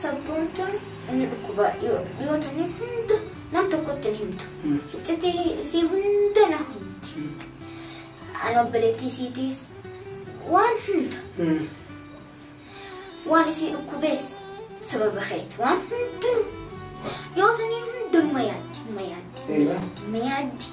Sabboontuun inni dhukkuba yoo ta'e hunda nam tokkotti hin himtu. Iccitii isii hunda na himti. Ani obboleettii isiitiis waan hunda waan isii dhukkubees sababa keeti waan hundinuu yoo ta'e hundinuma yaaddi ma yaaddi ma yaaddi ma yaaddi.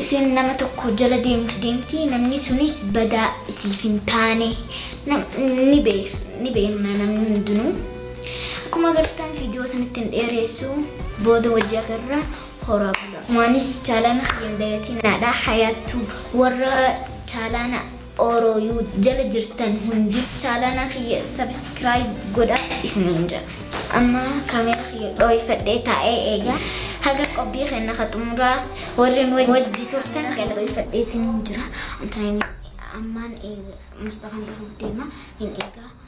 Isin nama tokko jala deemuuf deemti, namni sunis badaa isiif hin taane. Nam- Ni bee- ni beekna namni hundinuu. Akkuma agartan viidiyoo sanitti hin dheereessu, booda wajji agarra horaa bula. Waanis chaalaana kiyya hin dagatiinaadha. Hayaattuu warra chaalaana Oro you jala jirtan hundi chalana kiyya subscribe godha isinin jedha. Amma camera kiyya dhooyfadhee taa'ee eega haga qopii kenna ka xumuraa warri nu wajji turtan gala. Dhooyfadhee tinin jira. Ammaan eega Mustafaan dhufuuf deema hin eegaa.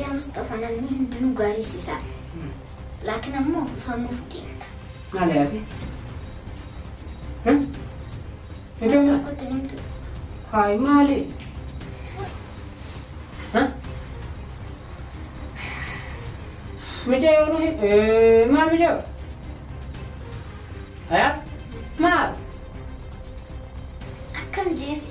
Yaa Mustafa namni hundinuu gaarii siisaa. Laakiin ammoo famuuf deemta. Maal yaade? Ijoollee Tokkotti nimtu. haay maali? Mijee yoo nuhi maal mijee? Haa maal? Akkam jeesi.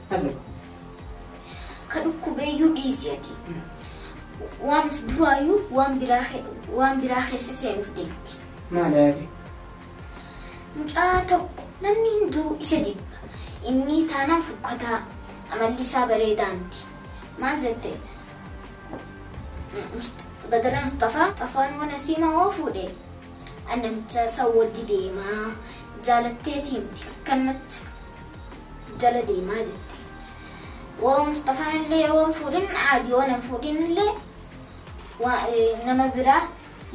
Hello. Ka dhukkubeeyyuu dhiisi ati. Waan of duraayyuu waan biraa ke- waan biraa keessa seenuuf deemti. Maal yaade? Mucaa tokko namni hunduu isa jibba. Inni taanaan fukkataa amalli isaa bareedaa miti. Maal jette? Must- Badala Mustafaa afaan mana siimaa hoo fuudhe. An namicha isa wajji deemaa jaalatteeti miti akkanatti jala deemaa jette. Woo Mustafaan illee yoo hin fuudhin aadi yoo nan fuudhin illee waa- eh, nama biraa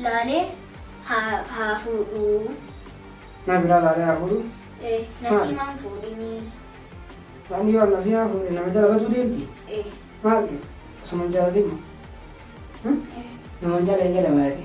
laalee haa haa fuudhu. Naa biraa laalee haa fuudhu. Eh, Nasiimaan fuudhinii. Namni yoo annasii haa fuudhe nama jala batuu deemti. Eh, Maali? Osuma hin jaalatin moo? eh. Nama hin jaalatee jala baate.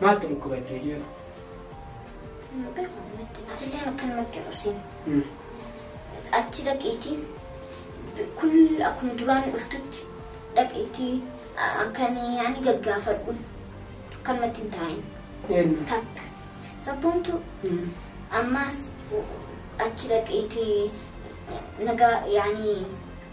Maaltu dhukkuba itti hojii jedhu? Hin beeku natti. Atillee akkanumatti rosin. Achi dhaqiitii kun akkuma duraan dhuftutti dhaqiitii akkamii ani gaggaafadhu akkanumatti hin taa'in. Eenyu? Takka. Sabboontu ammaas achi dhaqiitii nagaa yaani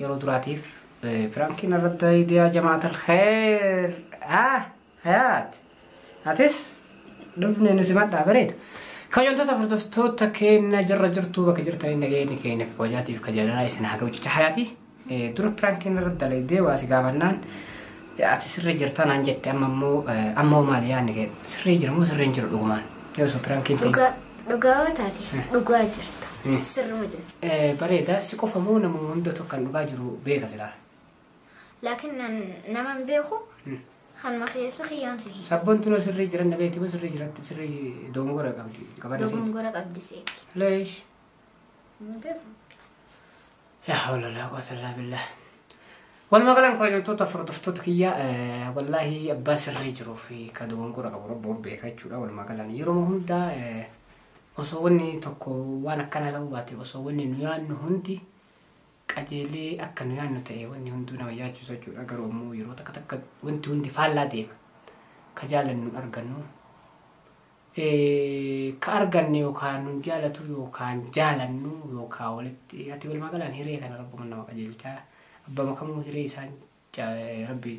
yeroo duraatiif pirankii narratti dalaydee yaa jamaatal kheer ah hayaat atis dhufne nu simadhaa bareeda kayyoontota hordoftoota keenya jirra jirtuu bakka jirtanii nageenyi keenya akka kabajaatiif ka jaalalaa isin haa ga'u jecha hayaati dura pirankii narratti dalaydee waa si gaafannaan ati sirrii jirtaa naan jette amma immoo ammoo maal yaanni kee sirrii jira moo sirrii hin jiru dhugumaan yoo osoo pirankii hin ta'in. Dhugaa dhugaa yoo taate dhugaa jirta. Sirruma jirta. Bareeda si qofa moo nama hundatu akkan dhugaa jiru beeka silaa. Laakiin nama hin beeku kanuma keessa kiyyaan si hiika. Sabbontuun sirrii jiran na beekti moo sirrii jiratti sirrii dogongora qabdi qabada seeti. Dogongora qabdi seeti. Leesh. Hin beeku. Laa hawla laa quwwata illaa billah. Walumaa galaan kabajamtoota hordoftoota kiyya wallaahi abbaa sirrii jiruu fi ka dogongora qabu rabbuun beeka jechuudha walumaa galaan yeroo hundaa Osoo wanni tokko waan akkanaa ta'uu baate osoo wanni nu yaannu hundi qajeelee akka nu yaannu ta'e wanni hunduu nama yaachisu jechuudha garuu ammoo yeroo takka takka wanti hundi faallaa deema ka jaalannu hin argannu Eh, ka arganne yookaan nu jaalatu yookaan jaalannu yookaan walitti ati walumaa galaan hiree kana rabbuman nama qajeelchaa abbaa makamuu hiree isaan rabbi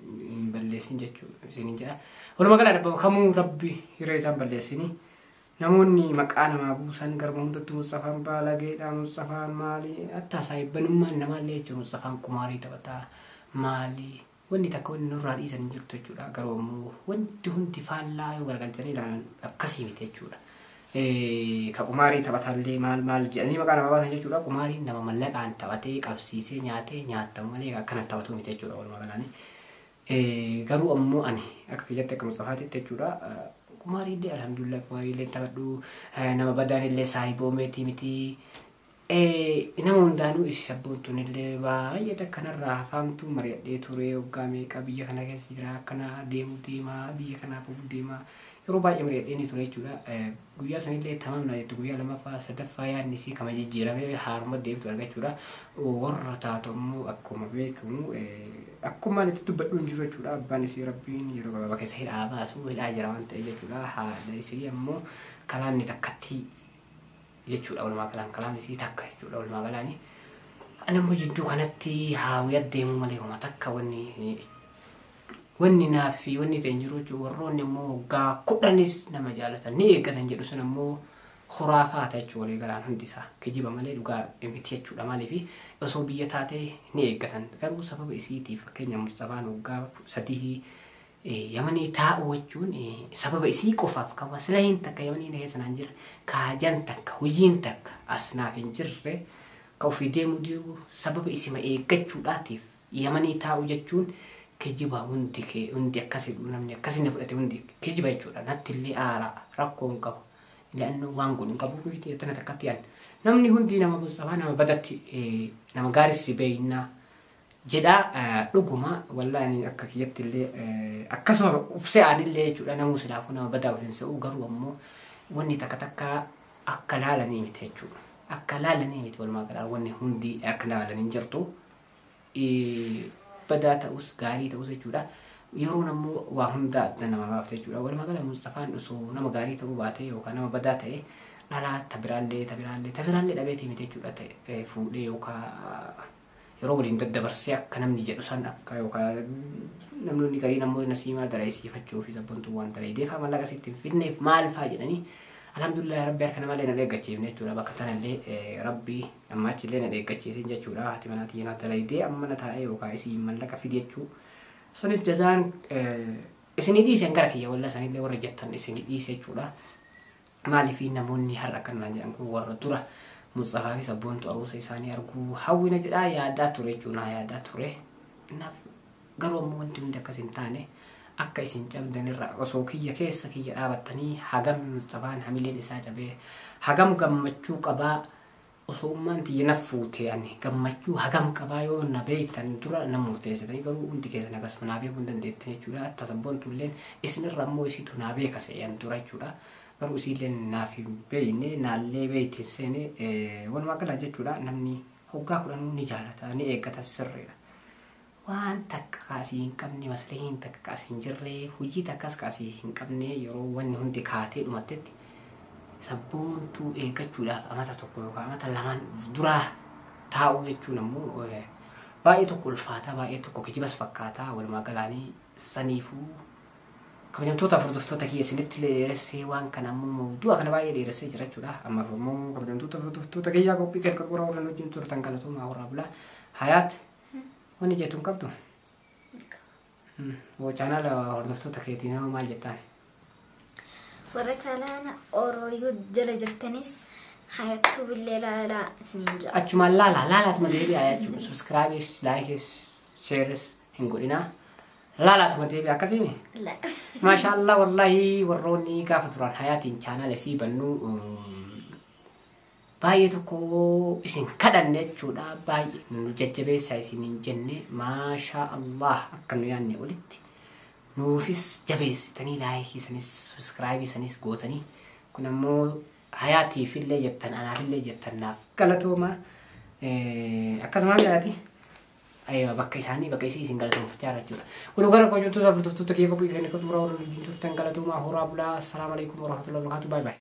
hin balleessin jechuu isinin jedha. Walumaa gala dhabbama kamuu rabbi hiree isaan balleessini. Namoonni maqaa namaa buusan garba hundatti Musxafaan baalageedha Musxafaan maali attaa saayibbanummaan namaallee jechuun Musxafaan kumaarii taphataa maali wanni takka wanni nurraa dhiisan hin jirtu jechuudha. Garuu ammoo wanti hundi faallaa yoo garagalchanii ilaalan akkasii miti jechuudha. ka qumaarii taphatallee maal maal jedhanii maqaa nama baasan jechuudha. Qumaariin nama mallaqaan taphatee qabsiisee nyaatee nyaatan malee akkana taphatu miti jechuudha walumaa galaanii. Garuu ammoo ani akka kiyyatti akka Mustafaatitti jechuudha. Qumaariillee alhamdulillah qumaariillee taphadhu nama badaan illee saahiboo meetii miti. Ee nama hundaanuu isi sabboontuun illee baay'ee takka narraa hafaamtuu mari'adhee turee waggaa meeqa biyya kana keessa jira akkana deemu deema biyya kanaa bahu deema yeroo baay'ee mari'adhee ni ture jechuudha guyyaa san illee tamaam naa jette guyyaa lamaffaa sadaffaa yaadni isii kama jijjiiramee haaruma deemtu argachuudha warra taatu ammoo akkuma beekamu akkumaan itti dubbadhu hin jiru jechuudha abbaan isii rabbiin yeroo gabaabaa keessa hidhaa baasu hidhaa jira waan ta'e jechuudha haadha isii ammoo kalaanni takkatti jechuudha walumaa galaan kalaamni isii takka jechuudha walumaa galaani anammoo jidduu kanatti haawii addeemuu malee homa takka wanni wanni naaf fi wanni ta'e hin jiru jechuudha warroonni ammoo waggaa kudhanis nama jaalatan ni eeggatan jedhu sun ammoo khuraafaata jechuudha walii galaan hundi isaa kijiba malee dhugaa miti jechuudha maaliif osoo biyya taate ni eeggatan garuu sababa isiitiif fakkeenya Mustafaan waggaa sadii Yamanii taa'u wachuun sababa isii qofaaf ka maslahiin takka yamanii na keessa naan jirre ka hajan takka hujiin takka as naaf hin jirre ka ofii deemuu didu sababa isima eeggachuudhaatiif yamanii taa'u jechuun kijiba hundi kee hundi akkas jedhu namni akkas inni fudhate hundi kijiba jechuudha natti illee aara rakkoo hin qabu ilannoo waan godhu hin qabu miti jettana takkatti an namni hundi nama bossabaa nama badatti nama gaarissi beeynaa jedhaa dhuguma wallaa ani akka kiyyatti illee akkasuma ubsee aan illee jechuudha namuu silaafuu nama badaa ofiin se'uu garuu ammoo wanni takka takka akka laalanii miti jechuudha. Akka laalanii miti walumaa galaa wanni hundi akka laalanii jirtu badaa ta'us gaarii ta'us jechuudha. Yeroon ammoo waa hundaa adda nama baafte jechuudha. Walumaa gala Mustafaan osoo nama gaarii ta'uu baatee yookaan nama badaa ta'ee dhalaa tabiraallee tabiraallee tabiraallee dhabeetii miti jechuudha ta'e fuudhee yookaan yeroo waliin daddabarsee akka namni jedhu san akka yookaan namni gariin ammoo nasiimaa dalaisiifachuu fi sabbontuu waan dalaideef mallaqa asitti hin fidneef maal faa jedhanii alhamdulillah rabbi harka namallee na dheeggachiifne jechuudha bakka tanallee rabbi amma achillee na dheeggachiisin jechuudha haati manaa tiyya naa dalaidee amma na taa'ee yookaan isiin mallaqa fide jechuu sanis jazaan isinii dhiisen gara kiyya walla sanillee warra jettan isinii dhiise jechuudha Maaliif namoonni har'a kan naan jedhan kun warra dura Mustaafaa fi Sabboontu Aruusa isaanii arguu hawwina jedhaa yaadaa ture jechuun haa yaadaa ture. Naaf garuu ammoo wanti hundi akkas hin taane akka isin cabdan irra osoo kiyya keessa kiyya dhaabattanii hagam Mustafaan hamileen isaa cabee hagam gammachuu qabaa Osoo ummaan tiyya na fuutee ani gammachuu hagam qabaa yoo na beektan dura na murteessitanii garuu hundi keessan akkasuma naa beekuu hin dandeettan jechuudha. Atta sabboontu illeen isinirra ammoo isiitu naa beeka se'e an dura jechuudha. Garuu isiilleen naaf hin beekne naallee beekti hin seene walumaa gala jechuudha namni hoggaa kudhanuu ni jaalata ni eeggata sirriidha. Waan takka ka asii hin qabne, masrihiin takka ka as hin jirre, hujii takkas ka asii hin qabne yeroo wanni hundi kaatee dhumattetti sabboontuu eeggachuudhaaf amata tokko yookaan amata lamaan of duraa taa'uu jechuun ammoo eh, baay'ee tokko ulfaataa baay'ee tokko kijibas fakkaataa walumaa galaanii saniifuu kabajamtoota hordoftoota kiyya isinitti dheeressee waan kana ammoo mawdu'a kana baay'ee dheeressee jira jechuudha ammaaf ammoo kabajamtoota hordoftoota kiyyaa qophii kan qaqqoraa warreen wajjin turtan galatoomaa warraa bulaa hayaat Wanni jettu hin qabdu? Hoo chaanaala hordoftoota keetiin hoo maal jettaan? Warra chaanaala Orooyuu jala jirtanis hayattuu billee laalaa isiniin jira. Achumaan laala laalaatuma deebi'aa jechuun subscribes likes shares hin godhinaa. Laalaatuma deebi'aa akkasiimi. La- Maashaallah wallahi warroonni gaafa turan hayaatiin chaanaala isii bannuu um, baay'ee tokko isin kadhanne jechuudha baay'ee nu jajjabeessaa isiniin jenne maashaa allah akka nu yaanne olitti nuufis jabeessitanii laayikii sanis subscribe sanis gootanii kun ammoo hayaatiif illee jettan anaaf illee jettan naaf galatooma akkasuma hayaati ayyoo bakka isaanii bakka isii isin galatoomfachaa irra jechuudha waluu gara koo jirtu hordoftoota kiyya qophii keenya qophii biraa waliin turtan galatoomaa horaa bulaa assalaamu alaikum warahmatullahi wabarakatuh baay baay